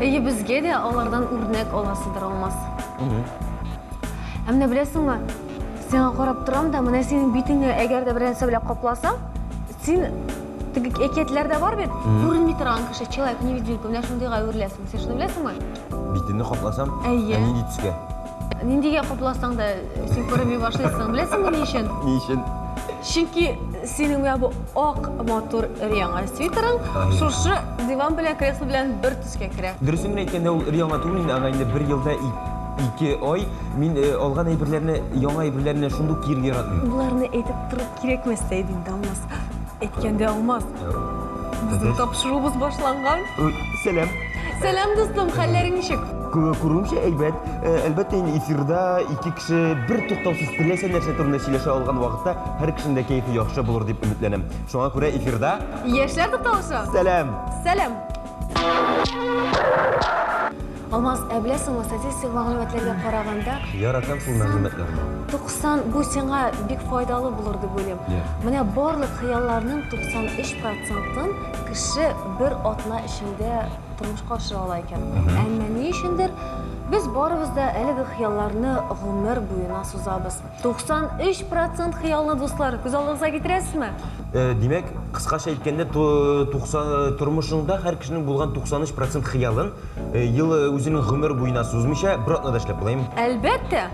Әйе, безгә дә алардан үрнәк аласыдыр, Алмаз. Ә менә беләсеңме, сиңа карап торам да, менә синең битеңне әгәр дә бернәрсә белән капласам, син теге әкиятләрдә бар бит, күренми торган кеше, человек невидимка, менә шундыйга әвереләсең. Син шуны беләсеңме? Битемне капласам, Әйе. ә нинди төскә? ниндигә котласаң да син күренми башлыйсың беләсеңме ни өчен ни өчен чөнки синең менә бу ак матур өр-яңа свитерың шушы диван белән кресло белән бер төскә керә дөресен генә әйткәндә ул өр-яңа түгел инде аңа инде бер елда ике ай мин э, алган әйберләрне яңа әйберләрне шундук киерге яратмыйм боларны әйтеп тору кирәкмәстә иде инде алмас әйткәндә алмас безнең тапшыруыбыз башланган сәлам Сәлам, дустым, хәлләрең ничек? Күрүемчә, әйбәт. Э, әлбәттә, инде эфирда ике кеше бер туктаусыз теләсә нәрсә турында сөйләшә алган вакытта һәр кешенең дә кәефе яхшы булыр дип өметләнәм. Шуңа күрә эфирда Яшьләр тукталышы. Сәлам! Сәлам. Алмаз, ә беләсеңме, статистик мәгълүматларга караганда, Яратам шул мәгълүматларны. 90 бу сиңа бик файдалы булыр дип уйлыйм. Менә барлык хыялларның 93 процентын Кеше бер атна эчендә тормышка ашыра ала икән. Әмма ни өчендер без барыбыз да әлеге хыялларны гомер буена сузабыз. 93 процент хыялны, дуслар, күз алдыгызга китерәсезме? Э, димәк, кыскача әйткәндә, тормышыңда һәр кешенең булган 93 процент хыялын э, ел э, үзенең гомер буена сузмыйча бер атнада эшләп буламы? Әлбәттә!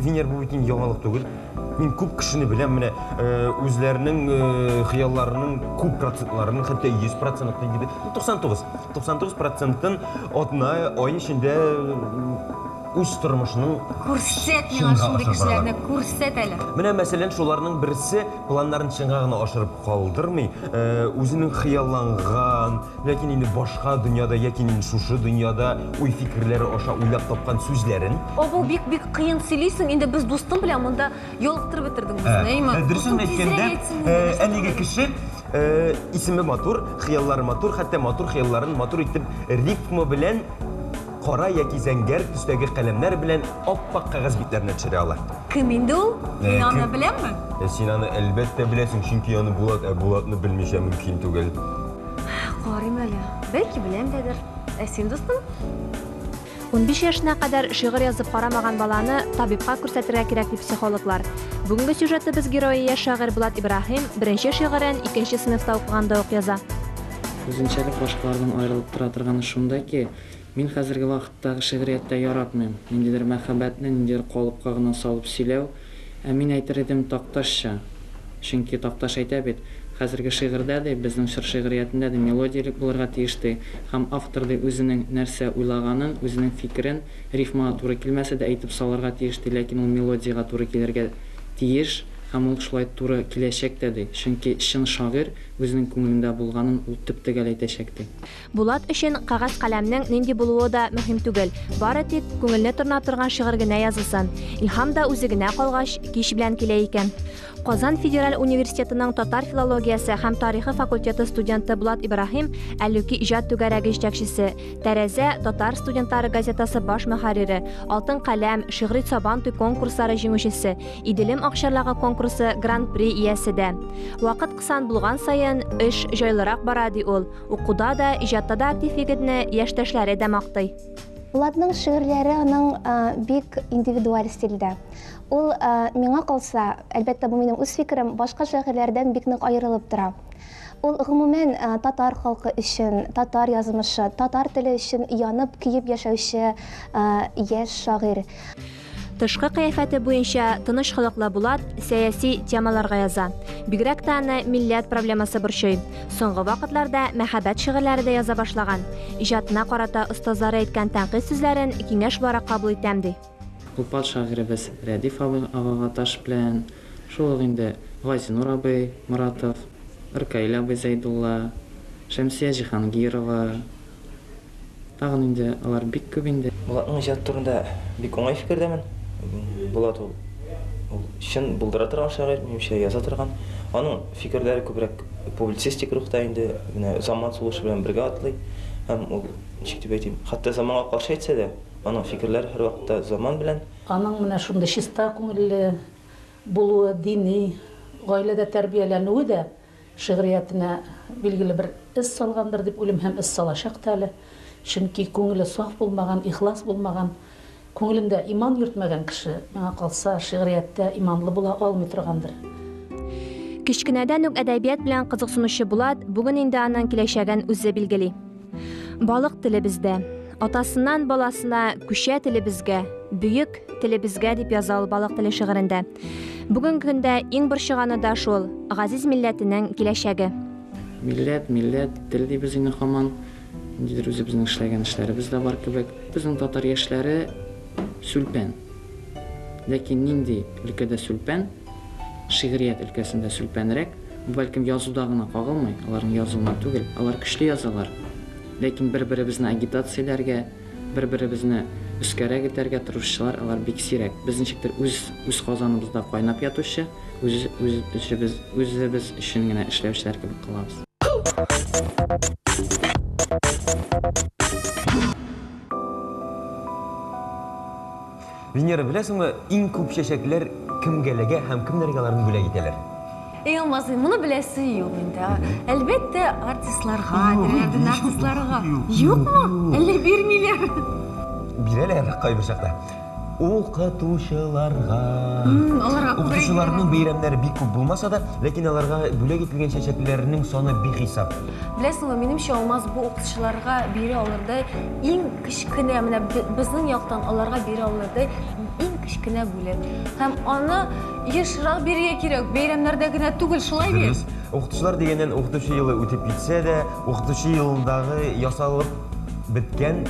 Венер, бу бит инде яңалык түгел. Мин күп кешене беләм, менә э, үзләренең э, хыялларының күп процентларын, хәтта 100 процентын диде. 99, 99 процентын атна ай эчендә э, үз тормышының Күрсәт миңа Чынга шундый ашап кешеләрне, баралар. күрсәт әле. Менә мәсәлән шуларның берсе планнарын чынга гына ашырып калдырмый, э, үзенең хыялланган, Ләкин инде башка дөньяда яки мин шушы дөньяда уй-фикерләре аша уйлап тапкан сүзләрен. Авыл бик бик кыен сөйлисең, инде без дустым белән монда ялыктырып бетердең үзеңне, әйме? Дөресен әйткәндә, әлеге кеше исеме матур, хыяллары матур, хәтта матур хыялларын матур итеп рифма белән кара яки зәңгәр төстәге каләмнәр белән ап-ак кәгазь битләренә төшерә ала. Кем инде ул? Мин аны беләмме? Син аны әлбәттә беләсең, чөнки аны Булат, ә Булатны белмичә мөмкин түгел. Карыйм әле. Бәлки беләм дәдер. Ә син, дустым? Унбиш яшенә кадәр шигырь язып карамаган баланы табибка күрсәтергә кирәк ди психологлар. Бүгенге сюжетыбыз герое яшь шагыйрь Булат Ибраһим беренче шигырен икенче сыйныфта укыганда ук яза. Үзенчәлек башкалардан аерылып тора торганы шунда ки, Мин хәзерге вакыттагы шигърияттә яратмыйм, ниндидер мәхәббәтне ниндидер калыпка гына салып сөйләү, ә мин әйтер идем, такташча. Чөнки, Такташ әйтә бит, Хәзерге шигырьдә, ди, безнең чор шигъриятендә, ди, мелодия элек булырга тиеш, ди, һәм автор, ди, үзенең нәрсә уйлаганын, үзенең фикерен, рифмага туры килмәсә дә, әйтеп салырга тиеш, ди, ләкин ул мелодиягә туры килергә тиеш, һәм ул шулай туры киләчәк тә, ди, чөнки чын шагыйрь үзенең күңелендә булганын ул төп-төгәл әйтәчәк, ди. Булат өчен кәгазь-каләмнең нинди булуы да мөһим түгел, бары тик күңелне тырнап торган шигырь генә язылсын. Илһам да үзе генә калгач, кич белән килә икән. Казан федераль университетының татар филологиясе һәм тарихы факультеты студенты Булат Ибраһим, Әллүки иҗат түгәрәге җитәкчесе, Тәрәзә, Татар студентлары газетасы баш мөхәррире, Алтын каләм, Шигъри Сабантуй конкурслары җиңүчесе, Иделем акчарлыгы конкурсы Гран-при иясе дә. Вакыт кысан булган саен, эш җайлырак бара, ди ул. Укуда да, иҗатта да актив егетне яшьтәшләре дә мактый. Булатның шигырьләре аның бик индивидуаль стильдә. Ул миңа калса, әлбәттә, бу минем үз фикерем, башка шагыйрьләрдән бик нык аерылып тора. Ул гомумән татар халкы өчен, татар язмышы, татар теле өчен янып, көеп яшәүче яшь шагыйрь. Тышкы кыяфәте буенча тыныч холыклы Булат сәяси темаларга яза. Бигрәк тә аны милләт проблемасы борчый. Соңгы вакытларда мәхәббәт шигырьләре дә яза башлаган. Иҗатына карата остазлары әйткән тәнкыйть сүзләрен киңәш буларак кабул итәм, ди. Уфа шагыйребез Рәдиф абый агага таш белән, шул ук инде Газинур абый Моратов, Ркаил абый Зәйдулла, Шәмсия Җиһангирова, Тагын инде алар бик күп инде. Булатның иҗаты турында бик уңай фикердәмен. Булат ул, ул чын булдыра торган шагыйрь, минемчә, яза торган. Аның фикерләре күбрәк публицистик рухта инде, менә заман сулышы белән бергә атлый. Һәм ул, ничек дип әйтим, хәтта заманга каршы әйтсә дә, аның фикерләре һәрвакытта заман белән. Аның менә шундый чиста күңелле булуы, дини, гаиләдә тәрбияләнүе дә Шигъриятенә билгеле бер эз салгандыр дип уйлыйм һәм эз салачак та әле. Чөнки күңеле саф булмаган, ихлас булмаган, күңелендә иман йөртмәгән кеше, миңа калса, шигърияттә иманлы була алмый торгандыр. Кечкенәдән үк әдәбият белән кызыксынучы Булат бүген инде аның киләчәген үзе билгели. Балык телебездә. Атасыннан баласына күчә телебезгә, бөек телебезгә дип яза ул балык теле шигырендә. Бүгенге көндә иң борчыганы да шул, газиз милләтенең киләчәге. Милләт, милләт, тел дибез инде хаман. Ниндидер үзебезнең эшләгән эшләребез дә бар кебек. Безнең татар яшьләре сүлпән. Ләкин нинди өлкәдә сүлпән, шигърият өлкәсендә сүлпәнрәк, бу бәлкем язуда гына кагылмый, аларның язуына түгел, алар көчле язалар, ләкин бер-беребезне агитацияләргә, бер-беребезне өскәрәк этәргә тырышучылар алар бик сирәк. Без ничектер үз, үз казаныбызда кайнап ятучы, үз, үз эшебез, үзебез өчен генә эшләүчеләр кебек калабыз. Венера, беләсеңме, иң күп чәчәкләр кемгә эләгә һәм кемнәргә аларны бүләк итәләр? Эй, алмазый, моны беләсе юк инде. Әлбәттә, артистларга, теләгән артистларга. Юкмы? Әллә бирмиләр? Бирәләр кайбер чакта. Укытучыларга. Мм, аларга күбрәк бирәләр. Укытучыларның бәйрәмнәре бик күп булмаса да, ләкин аларга бүләк ителгән чәчәкләрнең саны бихисап. Беләсеңме, минемчә, Алмаз, бу укытучыларга бирә алырдай иң кечкенә, менә безнең яктан аларга бирә алырдай иң кечкенә бүләк. Һәм аны ешрак бирергә кирәк, бәйрәмнәрдә генә түгел, шулай бит? Дөрес. Укытучылар дигәннән, укытучы елы үтеп китсә дә, укытучы елындагы ясалып беткән,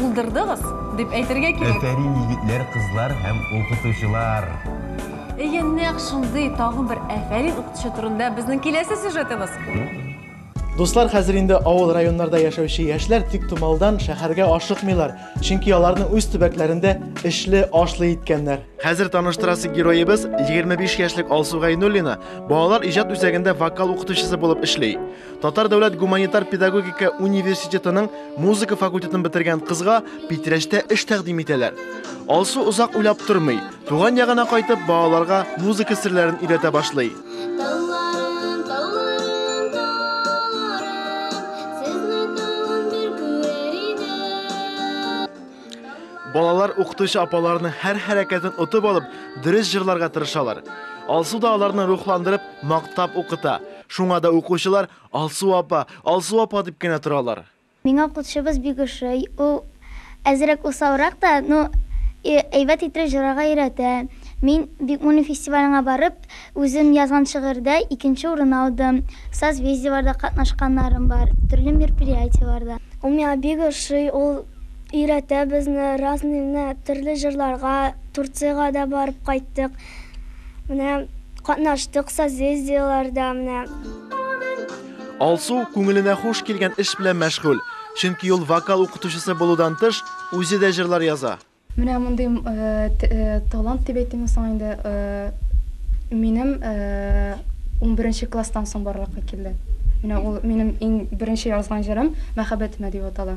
Булдырдыгыз, дип әйтергә кирәк. Әфәрин, егетләр, кызлар һәм укытучылар! Әйе, нәкъ шундый тагын бер әфәрин укытучы турында безнең киләсе сюжетыбыз. Дуслар, хәзер инде авыл районнарда яшәүче яшьләр тиктомалдан шәһәргә ашыкмыйлар, чөнки аларны үз төбәкләрендә эшле, ашлы иткәннәр. Хәзер таныштырасы героебыз 25 яшьлек Алсу Гайнуллина балалар иҗат үзәгендә вокал укытучысы булып эшли. Татар дәүләт гуманитар педагогика университетының музыка факультетын бетергән кызга Питрәчтә эш тәкъдим итәләр. Алсу озак уйлап тормый, туган ягына кайтып, балаларга музыка серләрен өйрәтә башлый. Балалар укытучы апаларының һәр хәрәкәтен отып алып, дөрес җырларга тырышалар. Алсу да аларны рухландырып, мактап укыта. Шуңа да укучылар Алсу апа, Алсу апа дип кенә торалар. Миңа укытучыбыз бик ошый. Ул әзрәк усалрак та, но әйбәт иттереп җырарга өйрәтә. Мин Бикмуллин фестиваленә барып, үзем язган шигырьдә икенче урын алдым. Созвездиеларда катнашканнарым бар, төрле мероприятиеларда. Ул миңа бик ошый, ул өйрәтә безне разныйны, төрле җырларга, Турцияга да барып кайттык. Менә катнаштык созездиеләрдә менә. Алсу күңеленә хуш килгән эш белән мәшгуль, чөнки ул вокал укытучысы булудан тыш, үзе дә җырлар яза. Менә мондый талант дип әйтимме соң инде, минем унберенче класстан соң барлыкка килде. Менә ул минем иң беренче язган җырым Мәхәббәтемә дип атала.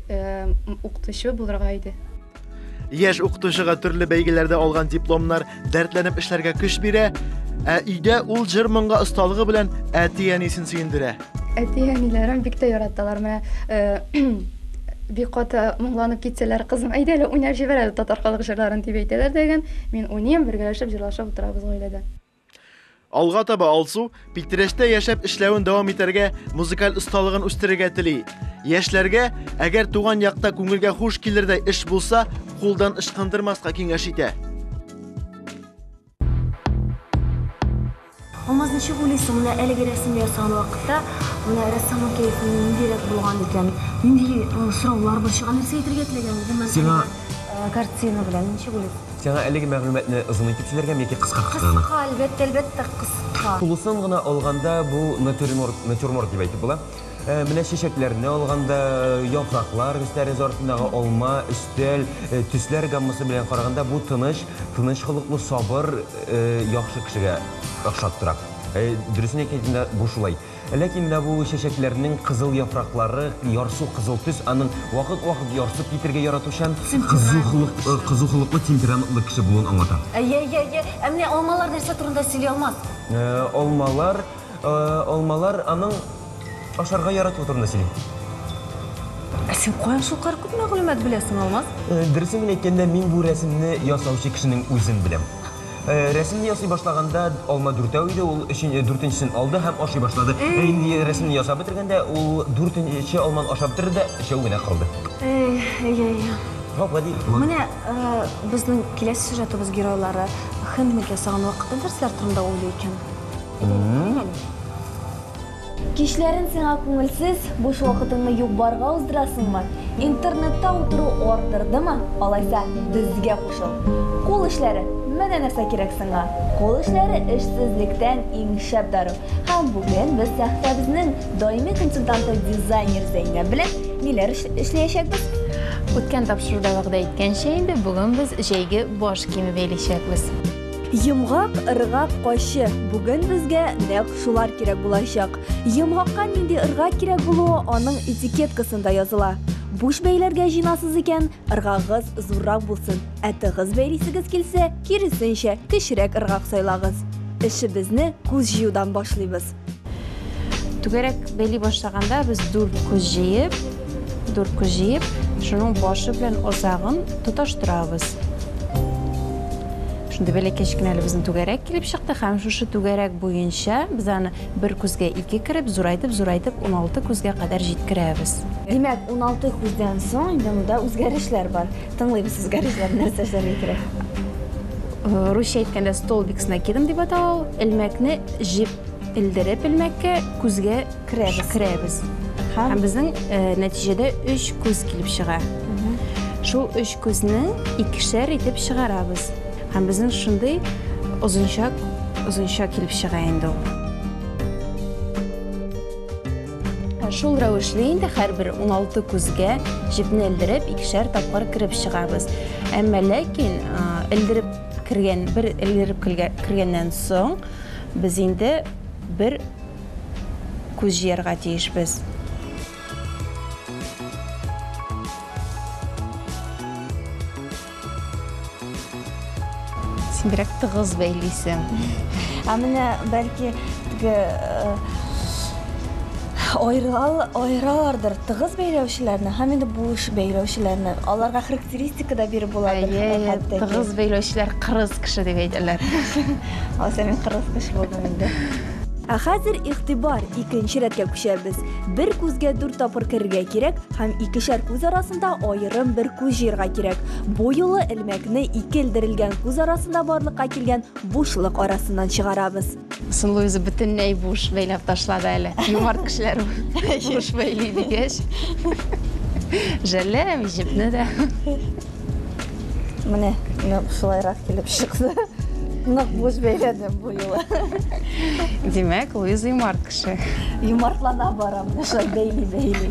укытучы булырга иде. Яшь укытучыга төрле бәйгеләрдә алган дипломнар дәртләнеп эшләргә көч бирә, ә өйдә ул җыр-моңга осталыгы белән әти-әнисен сөендерә. Әти-әниләрем бик тә яраталар. Менә э, бик каты моңланып китсәләр, кызым, әйдә әле уйнап җибәр әле татар халык җырларын дип әйтәләр дигән. Мин уйныйм, бергәләшеп җырлашып утырабыз гаиләдә. Алга таба Алсу Питрәчтә яшәп эшләвен дәвам итәргә, музыкаль осталыгын үстерергә тели. Яшьләргә, әгәр туган якта күңелгә хуш килердәй эш булса, кулдан ычкындырмаска киңәш итә. Алмаз, ничек уйлыйсың, менә әлеге рәсем ясаган вакытта, менә рәссамның кәефе ниндирәк булган икән? Нинди сораулар борчыган, нәрсә әйтергә теләгән гомумән? Сиңа... Картина белән ничек уйлыйсың? Сиңа әлеге мәгълүматны озын итеп сөйләргәме яки кыскаракмы? Кыска, әлбәттә, әлбәттә, кыска. Тулысын гына алганда, бу натюрморт, натюрморт дип әйтеп була. Менә чәчәкләрне алганда, яфраклар, өс тәрәзә артындагы алма, өстәл, төсләр гаммасы белән караганда, бу тыныч, тыныч холыклы, сабыр, яхшы кешегә охшап тора. Дөресен әйтә идем дә, бу шулай. Ләкин дә бу чәчәкләрнең кызыл яфраклары ярсу кызыл төс, аның вакыт-вакыт ярсып китергә яратучан, кызу холык, кызу холыклы, темпераментлы кеше булуын аңлата. Әйе, әйе, әйе. Ә менә алмалар нәрсә турында сөйли алмас? Алмалар, алмалар аның ашарга яратуы турында сөйли. Ә син каян шулкадәр күп мәгълүмат беләсең, Алмаз? Дөресен генә әйткәндә, мин бу рәсемне ясаучы кешенең үзен беләм. Э, рәсемне ясый башлаганда алма дүртәү иде, ул өчен, э, дүртенчесен алды һәм ашый башлады. Э, инде рәсемне ясап бетергәндә, ул дүртенче алманы ашап бетерде дә, өчәү генә калды. Эй, эй, эй. Һо, гади. Менә э, безнең киләсе сюжетыбыз геройлары хендмик ясаган вакытта нәрсәләр турында уйлый икән? Әйдә, әйдә, әйдә. Кичләрен сиңа күңелсез, буш вакытыңны юк-барга уздырасыңмы? Интернетта утыру артырдымы? Алайса, безгә кушыл! Кул эшләре, менә нәрсә кирәк сиңа! Кул эшләре, эшсезлектән иң шәп дару! Һәм бүген без сәхифәбезнең даими консультанты дизайнер Зәйнәб белән ниләр эшләячәкбез? Үткән тапшыруда вәгъдә иткәнчә инде, бүген без җәйге баш киеме бәйләячәкбез. Йомгак, ыргак, качы. Бүген безгә нәкъ шулар кирәк булачак. Йомгакка нинди ыргак кирәк булуы аның этикеткасында языла. Буш бәйләргә җыйнасыз икән, ыргагыгыз зуррак булсын, ә тыгыз бәйлисегез килсә, киресенчә, кечерәк ыргак сайлагыз. Эшебезне күз җыюдан башлыйбыз. Түгәрәк бәйли башлаганда без дүрт күз җыеп, дүрт күз җыеп, шуның башы белән озагын тоташтырабыз. Шундый бәләкәч кенә әле безнең түгәрәк килеп чыкты һәм шушы түгәрәк буенча без аны бер күзгә ике кереп, зурайтып, зурайтып 16 күзгә кадәр җиткерәбез. Димәк, 16 күздән соң инде монда үзгәрешләр бар. Тыңлыйм сез гаражлар нәрсә эшләргә кирәк? Э, русча әйткәндә столбик с накидом дип атала ул. Элмәкне җеп элдереп элмәккә күзгә керәбез. Керәбез. Һәм безнең э, нәтиҗәдә 3 күз килеп чыга. Шул 3 күзне икешәр итеп чыгарабыз. Һәм безнең шундый озынча озынча килеп чыга инде ул. Шул рәвешле инде һәрбер 16 күзгә җепне элдереп, икешәр тапкыр кереп чыгабыз. Әмма ләкин элдереп кергән, бер элдереп кергәннән соң, без инде бер күз җыярга тиешбез. Син бирәк тыгыз бәйлисең. Ә менә бәлки теге айрал айралардыр тыгыз бәйләүчеләрне һәм инде буш бәйләүчеләрне. Аларга характеристика да биреп була бит. Әйе, тыгыз бәйләүчеләр кырыс кеше дип әйтәләр. Алса мин кырыс кеше булдым инде. Ә хәзер игътибар, икенче рәткә күчәбез. Бер күзгә дүрт тапкыр керергә кирәк, Һәм икешәр күз арасында аерым бер күз җыерга кирәк. Бу юлы элмәкне ике элдерелгән күз арасында барлыкка килгән бушлык арасыннан чыгарабыз. Сынлы үзе бөтенләй буш бәйләп ташлады әле. Юмарт кешеләр буш бәйли дигәч. Жәлләм җепне дә. Менә шулайрак килеп чыкты. Нык буз бәйләдем бу юлы. Димәк, Луиза юмарт кеше. Юмартлана бара, менә шулай бәйли бәйли.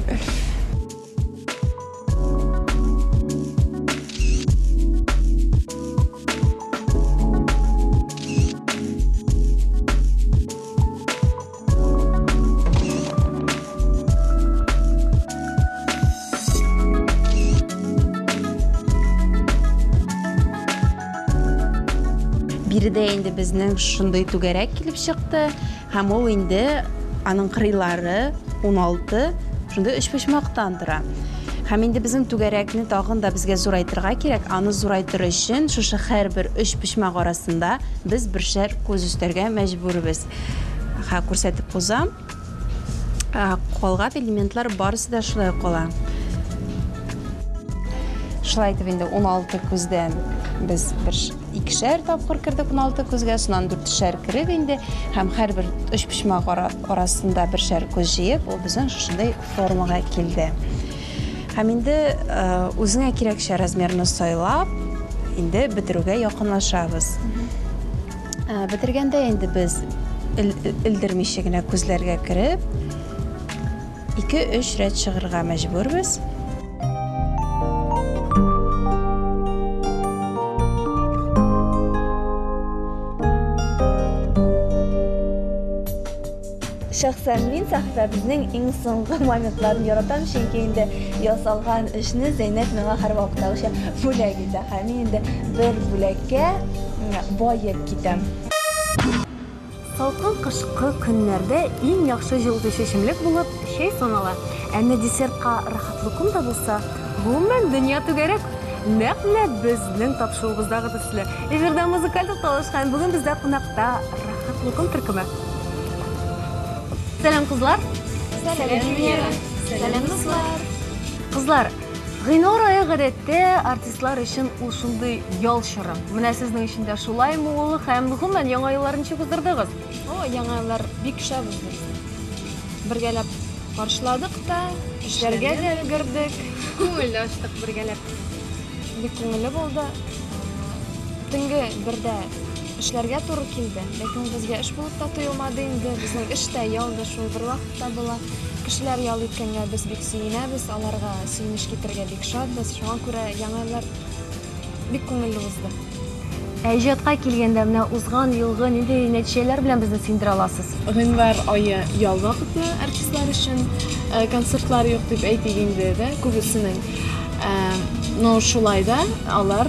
биредә инде безнең шундый түгәрәк килеп чыкты һәм ул инде аның кырыйлары 16 шундый өчпочмактан тора һәм инде безнең түгәрәкне тагын да безгә зурайтырга кирәк аны зурайтыр өчен шушы һәрбер өчпочмак арасында без бер шәр күз өстәргә мәҗбүрбез Ха, күрсәтеп узам. Калган элементлар барысы да шулай кала. Шулай итеп инде 16 күздән без бер икешәр тапкыр кердек 16 күзгә, шуннан дүртешәр кереп инде һәм һәрбер өчпочмак арасында бершәр күз җыеп, ул безнең шушындый формага килде. Һәм инде э, үзеңә кирәкчә размерны сайлап, инде бетерүгә якынлашабыз. Ә, бетергәндә инде без элдермичә генә күзләргә кереп, 2-3 рәт чыгырга мәҗбүрбез. Шәхсән мин сәхифәбезнең иң соңгы моментларын яратам, чөнки инде ясалган эшне Зәйнәб миңа һәрвакыттагыча бүләк итә. Һәм мин инде бер бүләккә баеп китәм. Салкын кышкы көннәрдә иң яхшы җылытучы эчемлек булып чәй санала. Ә менә десертка рәхәт лукум да булса, гомумән, дөнья түгәрәк! Нәкъ менә безнең тапшыруыбыздагы төсле. Эфирда музыкаль тукталыш һәм бүген бездә кунакта Хаклыкым төркеме. Сәлам, кызлар! Сәлам, Венера! Сәлам, дуслар! Кызлар, Гыйнвар айы гадәттә артистлар өчен ул шундый ял чоры. Менә сезнең өчен дә шулаймы ул һәм гомумән яңа еллар ничек уздырдыгыз? О, яңа еллар бик шәп узды. Бергәләп каршыладык та, эшләргә дә өлгердек. Күңел ачтык бергәләп. Бик күңелле булды. Төнге бердә эшләргә туры килде. Ләкин безгә эш булып та тоелмады инде. Безнең эш тә, ял да шул бер вакытта була. Кешеләр ял иткәнгә без бик сөенәбез, аларга сөенеч китергә бик шатбыз. Шуңа күрә яңа еллар бик күңелле узды. Ә иҗатка килгәндә, менә узган елгы нинди нәтиҗәләр белән безне сөендерә аласыз? Гыйнвар ае ял вакыты артистлар өчен. Концертлар юк дип әйтик инде, дә, күбесенең. Но шулай да алар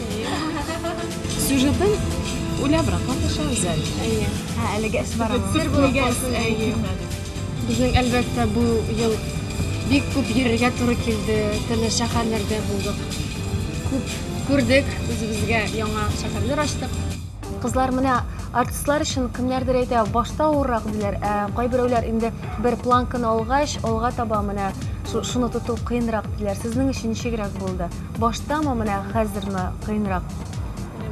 Сюжетын уйлабрак маташабыз әле. Әйе. Ә әлеге эш бар аны. Сер булып калсын. Әйе. Безнең әлбәттә бу ел бик күп йөрергә туры килде. Төрле шәһәрләрдә булдык. Күп күрдек, үзебезгә яңа шәһәрләр ачтык. Кызлар менә артистлар өчен кемнәрдер әйтә, башта авыррак диләр, ә кайберәүләр инде бер планканы алгач, алга таба менә шуны тоту кыенрак диләр. Сезнең өчен ничегрәк булды? Баштамы, менә хәзерме кыенрак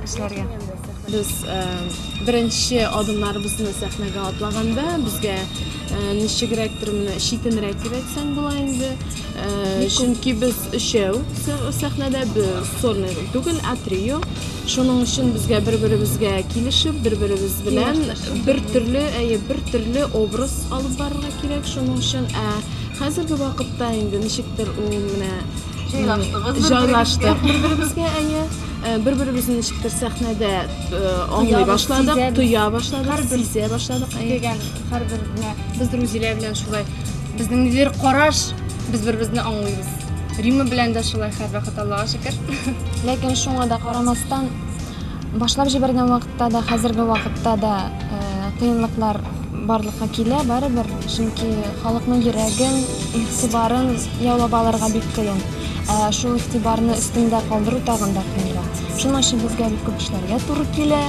эшләргә? Без беренче адымнарыбызны сәхнәгә атлаганда, безгә ничегрәктер менә читенрәк дип әйтсәң була инде. Чөнки без өчәү сәхнәдә, без сольный роль түгел, ә трио. Шуның өчен безгә бер-беребезгә килешеп, бер-беребез белән бер төрле, әйе, бер төрле образ алып барырга кирәк. Шуның өчен, ә хәзерге вакытта инде ничектер ул менә Җайлаштыгыз бер-берегезгә. Җайлаштык бер-беребезгә, әйе. Э, Бер-беребезне ничектер сәхнәдә э, аңлый Тоябыз, башладык, сизәбез. тоя башладык, Һәрбер- сизә башладык. әйе. Дигән һәрбер генә без Рузилә белән шулай безнең ниндидер караш без бер-беребезне аңлыйбыз. Рима белән дә шулай һәрвакыт Аллага шөкер. Ләкин шуңа да карамастан, башлап җибәргән вакытта Чынлыкта да хәзерге вакытта да кыенлыклар барлыкка килә барыбер, чөнки халыкның йөрәген, игътибарын яулап алырга бик кыен. Ә шул игътибарны өстендә калдыру тагын да кыенрак. Шуның өчен безгә бик күп эшләргә туры килә.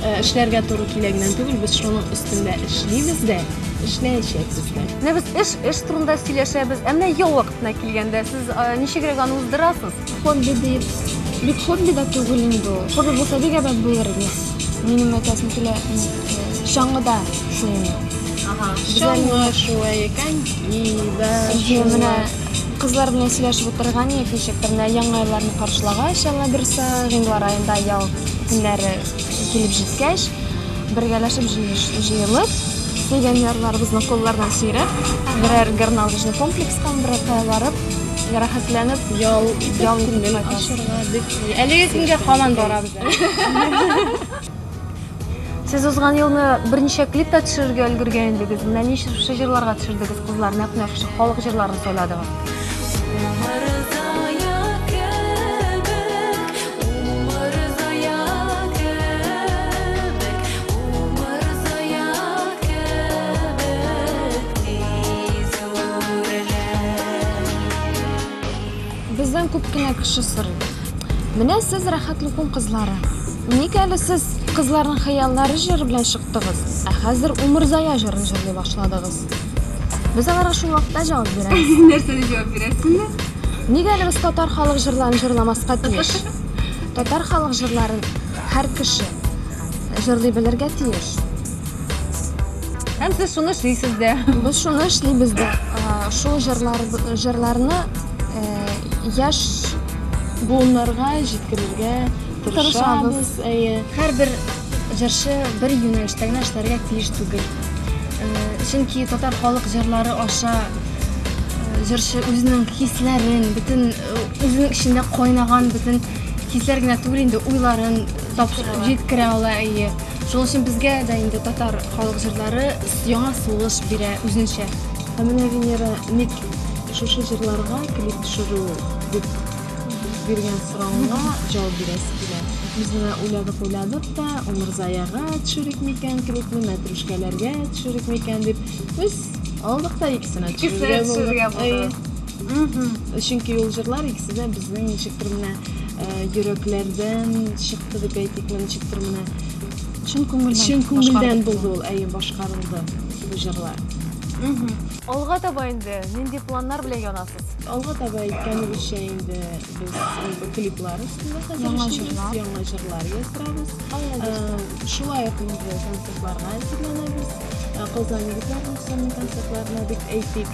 Э, эшләргә туры килә генә түгел, без шуның өстендә эшлибез дә, эшләячәкбез дә. Менә без эш, эш турында сөйләшәбез. Ә менә ял вакытына килгәндә, сез э, ничегрәк аны уздырасыз? Хобби дип, бик хобби да түгел инде ул. Хобби булса бик әбәт булыр иде. Минем әйтәсем килә, чаңгыда шуыну. Ага, чаңгы шуы икән, да. Менә кызлар белән сөйләшеп утырган идек, ничек тә менә яңа елларны каршылагач, Алла бирсә, гыйнвар аенда ял көннәре килеп җиткәч, бергәләшеп җыелып, сөйгән ярларыбызны куллардан сөйрәп, берәр горнолыжный комплекска, берәр кая барып, рәхәтләнеп ял ял итеп ашарга дип әлеге көнгә һаман барабыз сез узган елны берничә клип та төшерергә өлгергән идегез менә ничә җырларга төшердегез кызлар нәкъ менә шушы халык җырларын сайладыгыз Бездән күп кенә кеше сорый. Менә сез рәхәтле күн кызлары. Ник әле сез Кызларның хыяллары җыры белән чыктыгыз, ә хәзер Умырзая җырын җырлый башладыгыз? Без аларга шул вакытта җавап бирәбез. Нәрсә дип җавап бирәсеңме? Нигә әле без татар халык җырларын җырламаска тиеш? Татар халык җырларын һәр кеше җырлый белергә тиеш. Һәм сез шуны эшлисез дә. Без шуны эшлибез дә. Ә, Шул җырлар, җырларны ә, яшь буыннарга җиткерергә Тырышабыз. тырышабыз. Әйе. Һәрбер җырчы бер юнәлештә генә эшләргә тиеш түгел. Э, Чөнки татар халык җырлары аша э, җырчы үзенең хисләрен, бөтен э, үзенең эчендә кайнаган бөтен хисләр генә түгел инде, уйларын тапшыр- Тапшыра ала. җиткерә ала, әйе. Шуның өчен безгә дә инде татар халык җырлары яңа сулыш бирә үзенчә. Ә менә Венера ник шушы җырларга клип төшерү дип биргән соравына җавап бирәсе килә. Без менә уйладык-уйладык та, Умырзаягә төшерик микән клипны, Мәтрүшкәләргә төшерик микән дип, без алдык та икесенә төшерергә булдык. Икесенә төшерергә булдыгыз. Әйе. Чөнки ул җырлар икесенә безнең ничектер менә йөрәкләрдән чыкты дип әйтикме, ничектер менә чын күңелдән чын күңелдән булды ул, әйе, башкарылды бу җырлар. Алга таба инде нинди планнар белән янасыз? Алга таба әйткәнебезчә инде без клиплар өстендә хәзер эшлибез, яңа җырлар яздырабыз. Шулай ук инде концертларга әзерләнәбез. Казан егетләр ансамбле концертларына дип әйтик.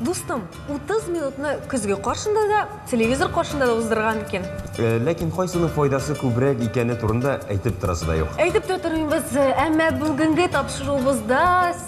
Дустым, 30 минутны көзге каршында да, телевизор каршында да уздырган икән. Э, ләкин кайсының файдасы күбрәк икәне турында әйтеп торасы да юк. Әйтеп тә тормыйбыз, әмма бүгенге тапшыруыбызда